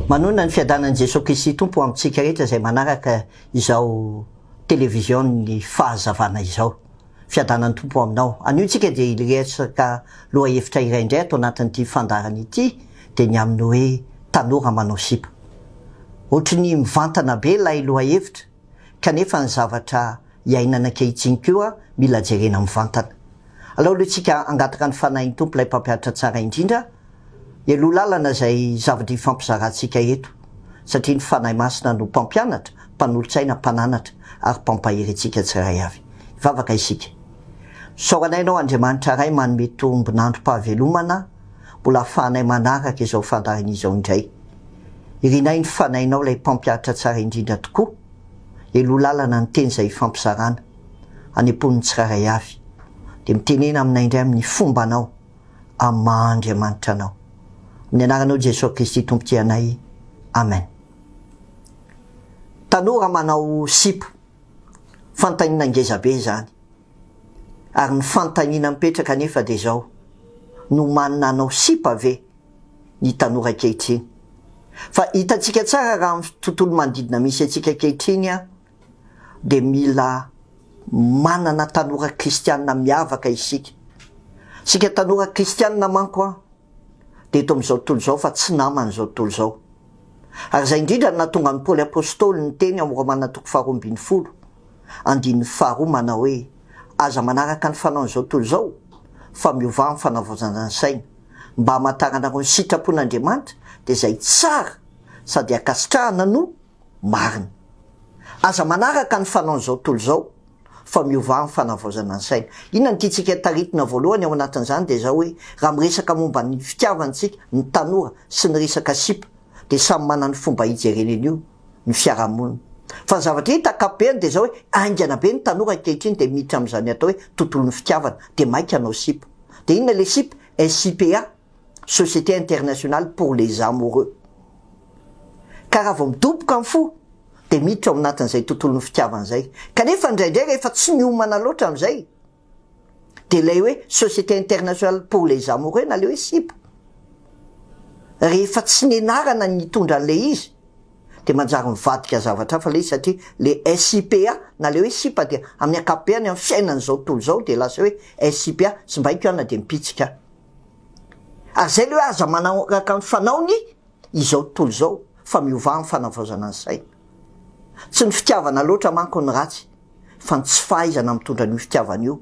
Manohina ny fiadanan'i Jesoa Kristy Tompo ho amintsika rehetra izay manaraka izao television-n'ny fahazavana izao. Fiadanan'ny Tompo ho aminao. Anio tsika dia hiresaka lohahevitra iray indray ato anatin'ity fandaharana ity dia ny amin'ny hoe tanora manao sipa. Ohatry ny mivantana be ilay lohahevitra kanefa ny zavatra iainana ankehitsiny koa mila jerena mivantana. Alao aloha tsika hangataka ny Fanahin'ny Tompo ilay Mpampianatra Tsara Indrindra Heloha lalana izay zavatra ifampizarantsika eto, satria ny Fanahy Masina no Mpampianatra, Mpanolotsaina, Mpananatra ary Mpampahery antsika tsirairay avy. Hivavaka isika. Misaotra Anay Ianao Andriamanitra Ray manome tombon'androm-pahavelomana mbola ahafahanay manaraka izao fandaharana izao indray. Irinay ny Fanahinao ilay Mpampihatra tsara indrindra tokoa. Heloha lalana ny teny izay ifampizarana, hanempon'ny tsirairay avy. Dia mitenena aminay indray amin'ny fombanao. amin'ny maha Andriamanitra anao. Amin'ny anaranao Jesoa Kristy Tompotsy anay. Amen. Tanora manao sipa. Fantanina ngeza be izany. Ary ny fantanina mipetraka anefa dia izao, nomanina hanao sipa ve ny tanora ankehitriny? Fa hitantsika tsara raha amin'ny tontolo manodidina misy antsika ankehitriny an! dia mila manana tanora kristianina miavaka isika. Isika tanora kristianina manko an, dia eto amin'izao tontolo izao fa tsy naman'izao tontolo izao. Ary izay indrindra no nahatonga an'i Paoly Apostoly niteny ao Romana toko faharoa ambin'ny folo, andininy faharoa manao hoe, Aza manaraka ny fanaon'izao tontolo izao, fa miovà amin'ny fanavaozana ny saina, mba hamantaranareo ny sitrapon'Andriamanitra, dia izay tsara sady ankasitrahana no marina. Aza manaraka ny fanaon'izao tontolo izao fa miovà amin'ny fanavaozana ny saina. Inona no tiantsika taritina voalohany ao anatin'izany dia izao hoe raha miresaka momba ny fitiavana isika, ny tanora sy ny resaka sipa dia samy manana ny fomba hijereny an'io ny fiarahamonina. Fa ny zavatra hita ankapobeny dia izao hoe haingana be ny tanora ankehitriny dia miditra amin'izany atao hoe tontolon'ny fitiavana dia maika hanao sipa. Dia inona ilay sipa? SIPA. Société internationale pour les amoureux. Ka raha vao midoboka ny fo dia miditra ao anatin'izay tontolon'ny fitiavana izay. Kanefa indraindray rehefa tsy miomana loatra amin'izay dia ilay hoe Société internationale pour les amoureux na ilay hoe sipa, rehefa tsy nianarana ny nitondra an'ilay izy dia manjary mivadika zavatra hafa ilay izy satria ilay SIPA na ilay hoe sipa dia amin'ny ankapobeany amin'ny fiainan'izao tontolo izao dia lasa hoe SIPA, simbaiko aho na dia mipitsika aho. Ary izay ilay hoe aza manaraka ny fanaony izao tontolo izao fa miovà amin'ny fanavaozana ny saina. Tsy ny fitiavana loatra manko ny ratsy fa ny tsy fahaizana mitondra an'io fitiavana io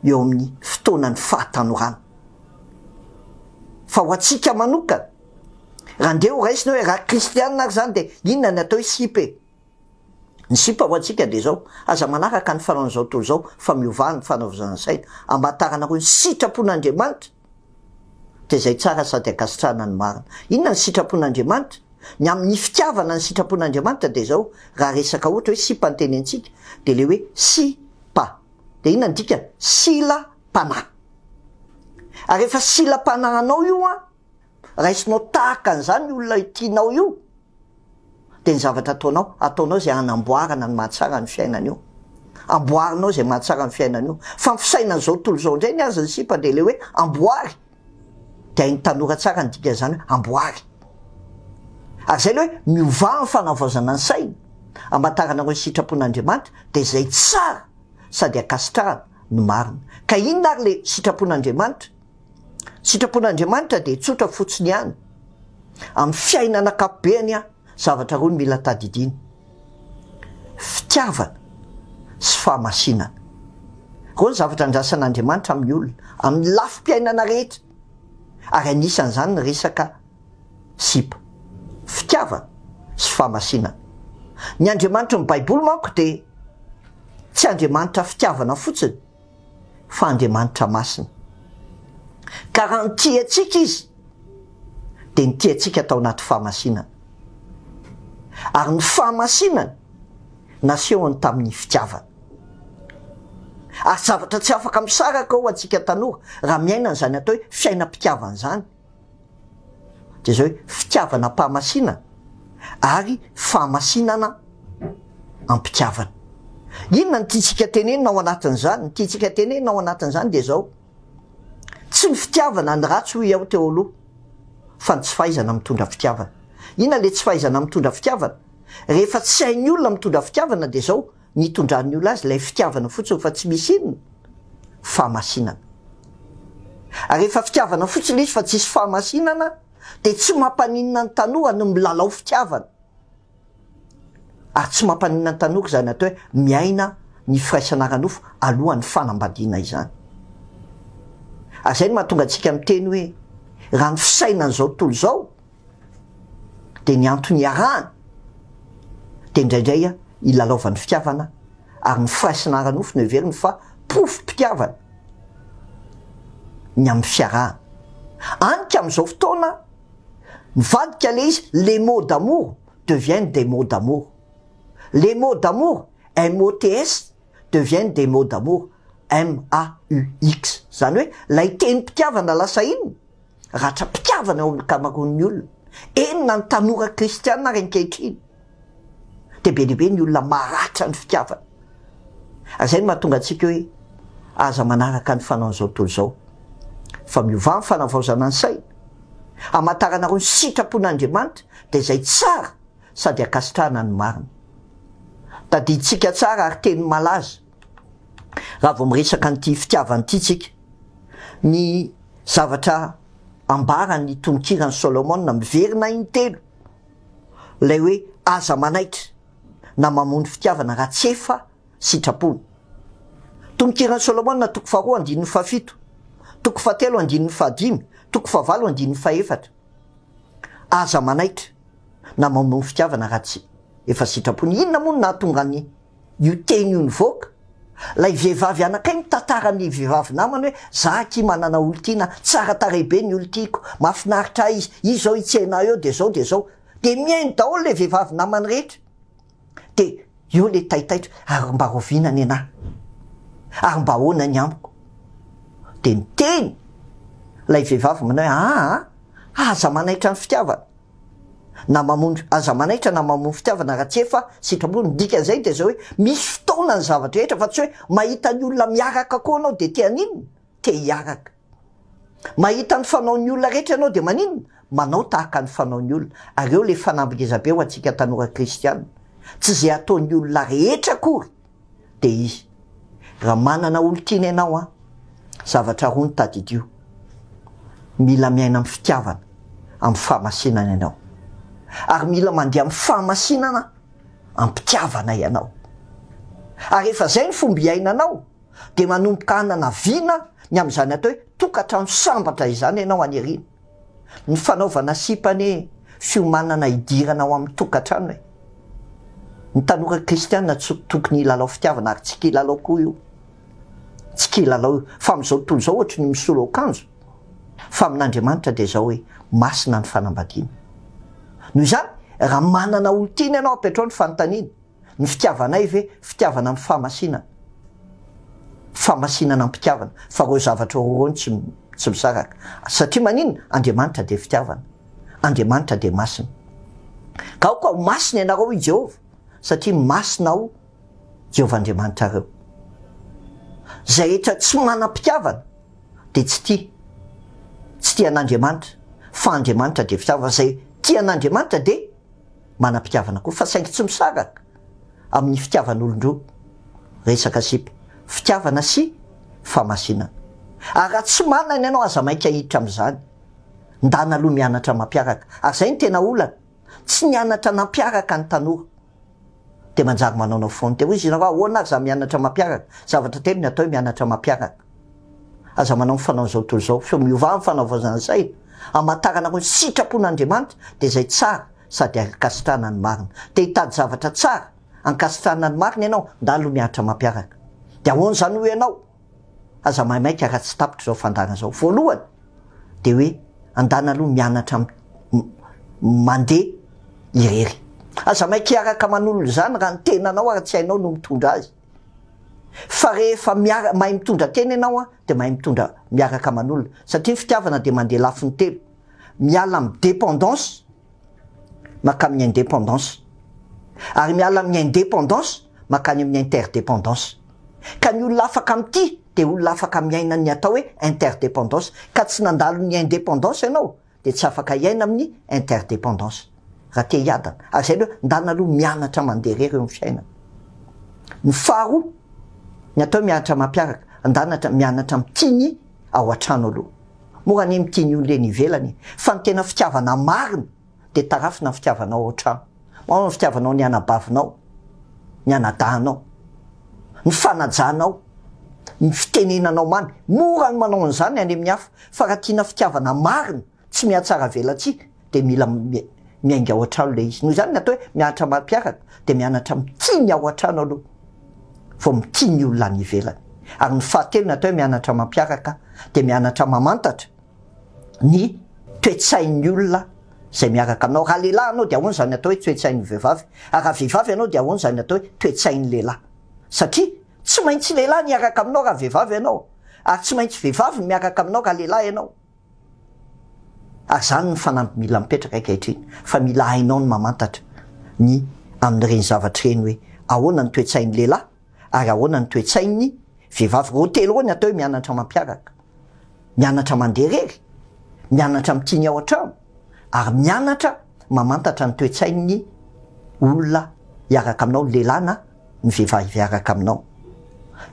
eo amin'ny fotoanan'ny fahatanorana. Fa ho antsika manokana, raha ndeha horaisina hoe raha kristianina ary izany dia inona ny atao hoe sipa e? Ny sipa ho antsika dia izao, aza manaraka ny fanaon'izao tontolo izao fa miovà ny fanaovozana saina, amataranareo ny sitrapon'Andriamanitra dia izay tsara sady ankasitrahana ny marina. Inona ny sitrapon'Andriamanitra? Ny amin'ny fitiavana ny sitrapon'Andriamanitra dia izao, raha resaka ohatra hoe sipa ny tenenintsika dia ilay hoe si pa dia inona ny dikany? Sila-panahy. Ary rehefa sila-panahy anao io an! raisinao tahaka an'izany io olona tianao io dia ny zavatra ataonao, ataonao izay hanamboarana ny mahatsara ny fiainany io, amboarinao izay mahatsara ny fiainany io. Fa ny fisainana izao tontolo izao indray ny azy ny sipa dia ilay hoe amboary, dia hain'ny tanora tsara ny dikan'izany hoe amboary. Ary izay ilay hoe miovà amin'ny fanavaozana ny saina, hamantaranareo ny sitrapon'Andriamanitra, dia izay tsara sady ankasitrahana no marina. Ka inona ary ilay sitrapon'Andriamanitra? Sitrapon'Andriamanitra dia tsotra fotsiny ihany. Amin'ny fiainana ankapobeany, zavatra roa no mila tadidiana, fitiavana sy fahamasinana. Ireo no zavatra andrasan'Andriamanitra amin'ny olona, amin'ny lafim-piainana rehetra, ary anisan'izany ny resaka sipa. Fitiavana sy fahamasinana. Ny Andriamanitry ny Baiboly manko dia tsy Andriamanitra fitiavana fotsiny, fa Andriamanitra masina. Ka raha nitia antsika Izy, dia nitia antsika tao anaty fahamasinana. Ary ny fahamasinany nasehony tamin'ny fitiavana. Ary zavatra tsy afaka misaraka ao antsika tanora, raha miaina an'izany atao hoe fiainam-pitiavana izany, dia izay hoe fitiavana am-pahamasiana ary fahamasinana am-pitiavana. Inona no tiantsika tenenina ao anatin'izany? Ny tiantsika tenenina ao anatin'izany dia izao, tsy ny fitiavana ny ratsy hoy aho teo aloha, fa ny tsy fahaizana mitondra fitiavana. Inona ilay tsy fahaizana mitondra fitiavana? Rehefa tsy hain'ny olona mitondra fitiavana dia izao, Ny itondran'ny olona azy ilay fitiavana fotsiny fa tsy misy inona? Fahamasinana. Ary rehefa fitiavana fotsiny izy fa tsisy fahamasinana dia tsy mampaninona ny tanora ny milalao fitiavana. Ary tsy mampaninona ny tanora izany atao hoe miaina ny firaisana ara-nofo alohan'ny fanambadiana izany. Ary izay no mahatonga antsika miteny hoe raha ny fisainan'izao tontolo izao dia ny antony iarahana dia indraindray ilalaovan'ny fitiavana ary ny firaisana ara-nofo no heveriny fa porofom-pitiavana ny amin'ny fiarahana. Any ka amin'izao fotoana mivadika ilay izy, les mots d'amour deviennent des mots d'amour. Les mots d'amour, MOTS, deviennent des mots d'amour, MAUX, izany hoe ilay tenim-pitiavana lasa inona? ratram-pitiavana eo amin'ny ankamaroan'ny olona, eny na ny tanora kristiana ary ankehitriny dia be dia be ny olona maratra ny fitiavana, ary izay no mahatonga antsika hoe aza manaraka ny fanaon'izao tontolo izao fa miovà ny fanavaozana ny saina, hamantaranareo ny sitrapon'Andriamanitra dia izay tsara sady ankasitrahana ny marina. Tadidintsika tsara ary teny malaza raha vao miresaka an'ity fitiavana ity tsika ny zavatra ambaran'ny tononkiran'i Solomona miverina intelo, ilay hoe aza manaitra na mamono fitiavana raha tsy efa sitrapony. Tononkiran'i Solomona toko faharoa andininy fahafito, toko fahatelo andininy fahadimy, toko fahavalo andininy fahefatra. Aza manaitra na mamono fitiavana raha tsy efa sitrapony. Inona moa no nahatonga an' io teny io nivoaka? Ilay vehivavy anankiray mitantara ny vehivavy namany hoe, za akia manana olon-tiana, tsara tarehy be ny olon-tiako, mahafinaritra ahy izy, izy izao hitsena ahy eo dia izao dia izao. Dia mihaino daholo ilay vehivavy namany rehetra. dia eo ilay taitaitra ary mba raoviana ny anah? ary mba ahoana ny amiko? dia niteny ilay vehivavy manao hoe aa aza manaitra ny fitiavana na mamono aza manaitra na mamono fitiavana raha tsy efa sitrapo ny dikan'izay dia izao hoe misy fotoana ny zava-drehetra fa tsy hoe mahita ny olona miaraka koa anao dia te haninona? te hiaraka Mahita ny fanaon'ny olona rehetra ianao dia maninona? Manao tahaka ny fanaon'ny olona. Ary eo ilay fanamby ngeza be ho antsika tanora kristiana. Tsy izay ataon'ny olona rehetra akory dia izy. Raha manana olon-tiana ianao an, zavatra roa no tadidio. Mila miaina amin'ny fitiavana, amin'ny fahamasinana ianao. Ary mila mandeha amin'ny fahamasinana, am-pitiavana ianao. Ary rehefa izay ny fomba iainanao, dia manomboka hanana vina ny amin'izany atao hoe tokantrano sambatra izany ianao any aoriana. Ny fanaovana sipa anie fiomanana hidirana ao amin'ny tokantrano e! Ny tanora kristiana tsy tokony hilalao fitiavana ary tsy kilalao koa io. Tsy kilalao io. Fa amin'izao tontolo izao ohatry ny misolo akanjo. Fa amin'Andriamanitra dia izao hoe masina ny fanambadiana. Noho izany, raha manana olon-tiana ianao, apetrao ny fanontaniana. Ny fitiavanay ve fitiavana amin'ny fahamasinana? Fahamasinana am-pitiavana, fa ireo zavatra roa ireo no tsy tsy misaraka. Satria maninona? Andriamanitra dia fitiavana. Andriamanitra dia masina. Ka aoka ho masina ianareo, hoy Jehovah, satria masina Aho, Jehovah Andriamanitrareo. Izay rehetra tsy manam-pitiavana dia tsy tia. Tsy tia an'Andriamanitra, fa Andriamanitra dia fitiavana. Izay tia an'Andriamanitra dia manam-pitiavana koa fa saingy tsy misaraka amin'ny fitiavan'olon-droa resaka sipa, fitiavana sy fahamasinana. Ary raha tsy manana ianao aza maika hiditra amin'izany. Ndana aloha mianatra mampiaraka ary izay no tena olana, tsy nianatra nampiaraka ny tanora dia manjary manaonao faute. Hoy izy nareo ahoana ary za mianatra mampiaraka? Zavatra telo ny atao hoe mianatra mampiaraka. Aza manao ny fanao zao tontolo zao, feo miovà ny fanaovaozana saina, hamantarana koa ny sitrapon'Andriamanitra, dia izay tsara sady ankasitrahana ny marina. Te hitady zavatra tsara ankasitrahana ny marina ianao? Ndalo mihatra mampiaraka. Dia ahoana izany hoy ianao? Aza maimaika raha tsy tapitra izao fandaharana izao. Voalohany, dia hoe andana aloha mianatra m, m, mandeha irery. Aza maika hiaraka manolo izany raha ny tenanao ary tsy hainao no mitondra azy. fa rehefa miara mahay mitondra tena ianao an dia mahay mitondra miaraka aman'olona satria ny fitiavana dia mandeha lafiny telo miala amin'ny dépendance makamin'ny indépendance ary miala amin'ny indépendance makany amin'ny interdépendance ka ny olona afaka mitia dia olona afaka miaina ny atao hoe interdépendance ka tsy nandalo ny indépendance ianao dia tsy afaka hiaina amin'ny interdependance raha te hiadana ary izay aloha ndana aloha mianatra mandeha irery eo amin'ny fiainana ny faharoa ny atao hoe mianatra mampiaraka andanatra mianatra mitia ny ao an-trano aloha mora anie mitia ny olona eny ivelany e fa ny tena fitiavana marina dia tarafina ny fitiavana ao an-trano Ao ny fitiavanao ny anabavinao, ny anadahinao, ny fanajanao, ny fitenenanao mamy. Mora ny manao an'izany any amin'ny hafa, fa raha tiana fitiavana marina, tsy mihatsaravelatsihy, dia mila miainga ao an-trano ilay izy. Noho izany ny atao hoe mianatra amam-piaraka, dia mianatra mitia ny ao an-trano aloha, vao mitia ny olona any ivelany. Ary ny fahatelo ny atao hoe mianatra amam-piaraka, dia mianatra mamantatra ny toe-tsain'ny olona. Izay miaraka aminao. Raha lehilahy ianao dia ahoana izany atao hoe toe-tsain'ny vehivavy? Ary raha vehivavy ianao dia ahoana izany atao hoe toe-tsain'ny lehilahy? Satria tsy maintsy lehilahy ny hiaraka aminao raha vehivavy ianao, ary tsy maintsy vehivavy ny miaraka aminao raha lehilahy ianao. Ary izany no fanamby mila mipetraka ankehitriny, fa mila hainao ny mamantatra ny amin'ireny zavatra ireny hoe ahoana ny toe-tsain'ny lehilahy, ary ahoana ny toe-tsain'ny vehivavy ireo telo ireo ny atao hoe mianatra mampiaraka, mianatra mandeha irery, mianatra amin'ny tiany ao an-trano ary mianatra mamantatra ny toe-tsain'ny olona hiaraka aminao, ny lehilahy na ny vehivavy hiaraka aminao.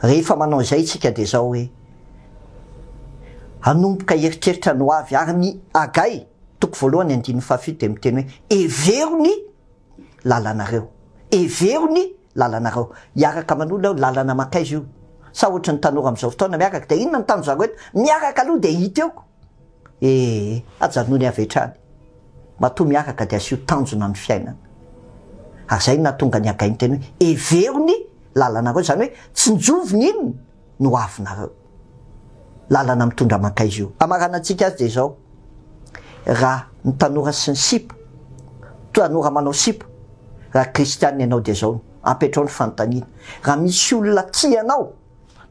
Rehefa manao izay isika dia izao hoe hanomboka hieritreritra ny ho avy ary ny Hagay toko voalohany andininy fahafito dia miteny hoe hevero ny lalanareo, hevero ny lalanareo hiaraka manolo eo lalana makaiza io sa ohatry ny tanora amizao fotoana miaraka dia inona ny tano zareo eto miaraka aloha dia hita eo ko ee ajanony avy hatrany matoa miaraka dia asio tanjona ny fiainana ary zay no nahatonga ny agahy niteny hoe hevero ny lalanareo zany hoe tsinjovy ny inona no avinareo lalana mitondra mankaiza io? Hamaranantsika azy dia izao, raha ny tanora sy ny sipa, tanora manao sipa, raha kristianina ianao dia izao no apetrao ny fanontaniana, raha misy olona tia anao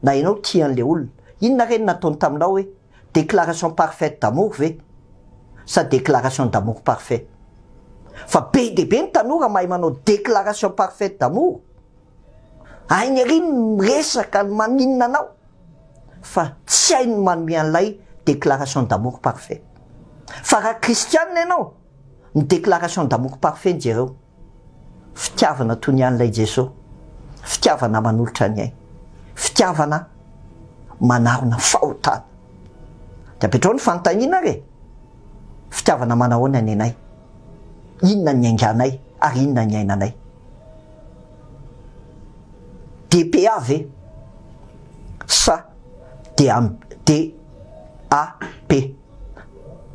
na ianao tia an'ilay olona, inona re no nataony taminao hoe déclaration parfaite d'amour ve sa déclaration d'amour parfait? Fa be dia be ny tanora mahay manao déclaration parfaite d'amour, Hainy ery ny miresaka ny maninona anao fa tsy hainy ny manome an'ilay déclaration d'amour parfait. Fa raha kristianina ianao, ny déclaration d'amour parfait jereo, fitiavana toy ny an'ilay Jeso, fitiavana manolotra ny ainy, fitiavana manarona fahotana. Dia apetrao ny fanontaniana ary e! Fitiavana manahoana ny anay? Inona ny niainganay ary inona ny niainanay? DPA ve sa DAP?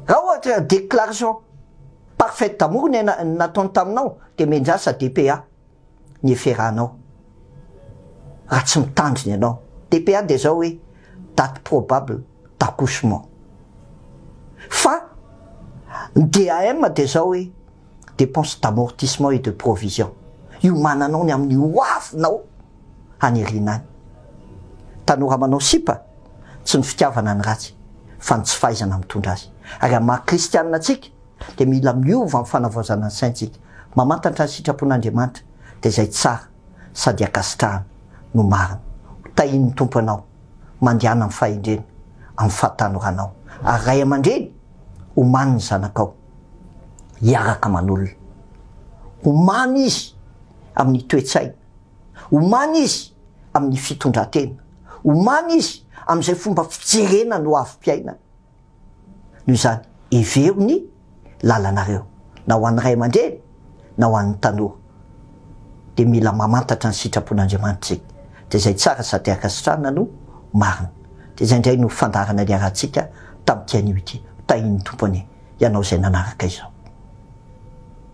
Raha ohatra déclaration parfaite d'amour no nataony taminao dia mianjary sa DPA? ny eferanao raha tsy mitandrina ianao. DPA dia izao hoe date probable d'accouchement. Fa ny DAM dia izao hoe dépenses d'amortissement et de provision. Iomananao ny amin'ny ho avinao any aoriana any. Tanora manao sipa, tsy ny fitiavana ny ratsy fa ny tsy fahaizana mitondra azy. Ary amin'ny maha kristianina antsika, dia mila miova amin'ny fanavaozana ny saintsika, mamantatra ny sitrapon'Andriamanitra, dia izay tsara sady ankasitrahana no marina. Ho tahian'ny Tompo anao mandehana amin'ny fahendrena, amin'ny fahatanoranao, ary ray aman-dreny, omany ny zanakao hiaraka manolona. Omany izy amin'ny toe-tsaina, omany izy amin'ny fitondran-tena, omany izy amin'izay fomba fijerena ny hoavim-piainana. Noho izany, hevero ny lalanareo, na ho an'ny ray aman-dreny, na ho an'ny tanora. Dia mila mamantatra ny sitrapon'Andriamanitra isika. Dia izay tsara sady ankasitrahana no marina. Dia izay indray no fandaharana niarahantsika tamin'ity anio ity. Ho tahin'ny Tompo anie ianao izay nanaraka izao.